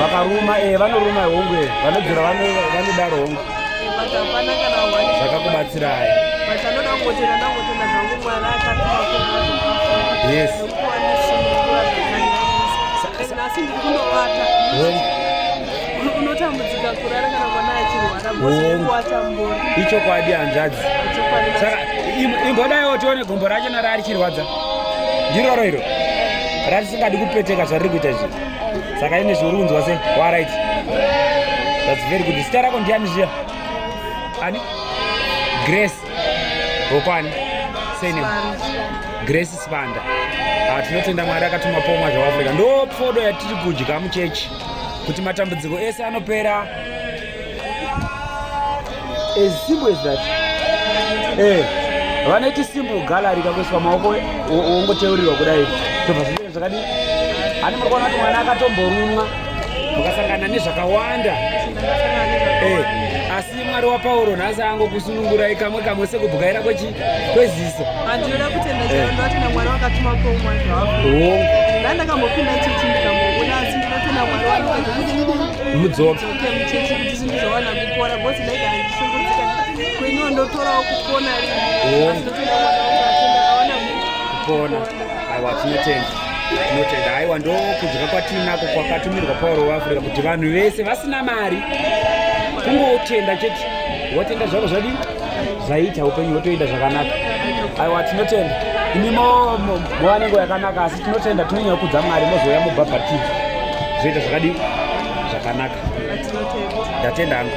vakaruma e vanoruma hongu e vanodzora vanodaro hongu zvakakubatsirai yes unotambudzika kurara kana mwana achirwara bosewatambo ichokwadi hanzvadzi saka imbodaiwo tione gombo racho nara arichirwadza ndiroro iro ratisingadi kupeteka zvariri kuita izvi saka ine zviuri kunzwa se warit thats very good zita rako ndiani zviya ani grace vokwani sene grace sibanda ah, tinotenda mwari akatuma pomwa zvaafrica ndo pfodo yatiri kudya muchechi kuti matambudziko ese anopera As simple as that. Eh, vanoiti simple gallery kakuiswa maoko wongoteurirwa kudai tobva zvinenge zvakadii ani muri kuona kuti mwana akatomborumwa mukasangana nezvakawanda eh, asi mwari wapauro nhasi angokusunungurai kamwe kamwe sekubwaira kwechi kweziso andinoda kutenda eh. chaandoatenda mwari wakatuma komwa zvaongo ndandakambopinda chechi ndikamuona asi ndinotenda mwari wamudzoka muchechi kuti zvinhu zvawana kupora bhosi dai kana ndishungurudzika kweniwo ndotorawo kupona kupona aiwa tinotenda tinotenda aiwa ndokudya kwatiinako kwakatumirwa pauro weafrica kuti vanhu vese vasina mari kungotenda chete watenda zvako zvadii zvaita upenyu hwotoenda zvakanaka aiwa tinotenda imi movanengo yakanaka asi tinotenda tinonyanya kudza mwari mozouya mubhabhatidza zvoita zvakadii zvakanaka ndatenda hangu